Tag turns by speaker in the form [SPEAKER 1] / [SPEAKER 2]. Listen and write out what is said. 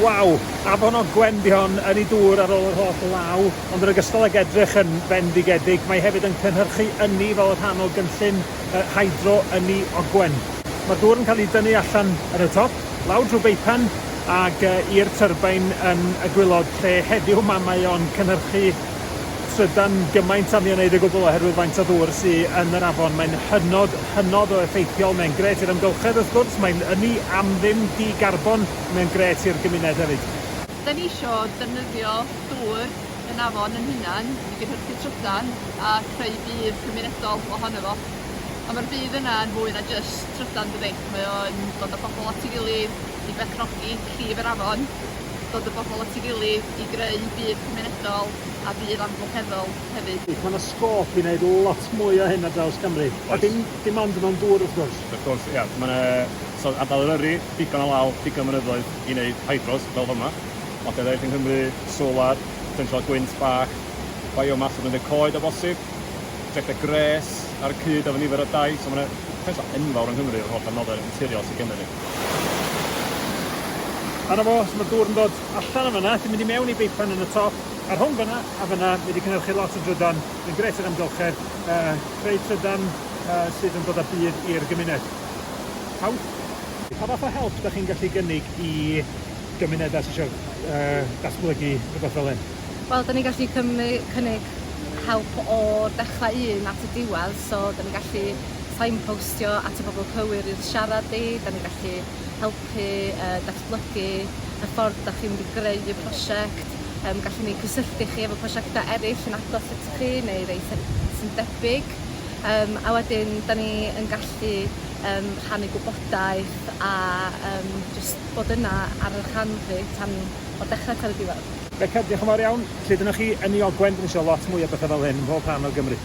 [SPEAKER 1] Waw! Afon Ogwen 'di hon, yn ei dŵr ar ôl yr holl law, ond yn ogystal ag edrych yn fendigedig, mae hefyd yn cynhyrchu ynni fel y rhan o gynllun yy hydro ynni Ogwen. Mae'r dŵr yn cael ei dynnu allan yn y top, lawr drwy beipan ag yy i'r tyrbain yn y gwilod lle heddiw 'ma mae o'n cynhyrchu trydan gymaint â mi wneud o gwbl oherwydd faint o ddŵr sy yn yr afon. Mae'n hynod, hynod o effeithiol, mae'n gret i'r amgylchedd wrth gwrs, mae'n ynni am ddim di-garbon, mae'n gret i'r gymuned hefyd. Da ni isio
[SPEAKER 2] defnyddio dŵr yn afon yn hunan i gynhyrchu trydan a creu budd cymunedol ohono fo. A mae'r budd yna yn fwy na jyst trydan dydi? Mae o'n dod â pobl at ei gilydd i berchnogi llif yr afon, dod y bobl at ei gilydd i greu byd cymunedol a byd amgylcheddol hefyd.
[SPEAKER 1] Mae 'na sgôp i wneud lot mwy o hyn ar draws Cymru. Oes. Dim, dim ond mewn dŵr wrth gwrs. Wrth gwrs, ia. Mae 'na,
[SPEAKER 3] so ardal Eryri, digon o law, digon o fynyddoedd i wneud hydros fel fama. Ond lle eraill yng Nghymru, solar, potensial gwynt bach, biomass o Gwyndeg Coed o bosib, projectau gwres ar y cyd efo nifer o dai. So mae 'na potensial enfawr yng Nghymru efo'r holl adnoddau naturiol sy gennyn ni. A
[SPEAKER 1] 'na fo, so ma' dŵr yn dod allan o fanna, sy'n mynd i mewn i beipan yn y top, a rhwng fanna a fanna mae 'di cynhyrchu lot o drydan, mae'n grêt i'r amgylchedd, yy creu trydan yy sydd yn dod â budd i'r gymuned. Pawb? Pa fath o help 'dach chi'n gallu gynnig i gymunedau sy isio yy datblygu rhywbeth fel hyn? Wel 'dan ni'n gallu
[SPEAKER 4] cymu- cynnig help o'r dechra un at y diwedd, so 'dan ni'n gallu signpostio at y bobl cywir i'r siarad i, 'da ni'n gallu helpu yy datblygu y ffordd 'dach chi'n mynd i greu y prosiect, yym gallwn ni cysylltu chi efo prosiectau eryll yn agos at chi neu rei sy- sy'n debyg yym a wedyn 'da ni yn gallu yym rhannu gwybodaeth a yym jyst bod yna ar y'ch rhan chi tan o'r dechre tan y diwedd. Beca,
[SPEAKER 1] diolch yn fawr iawn. Lle dyna chi? Yn Niogwen, 'da
[SPEAKER 4] ni
[SPEAKER 1] isio lot mwy o betha fel hyn ym mhob rhan o Gymru.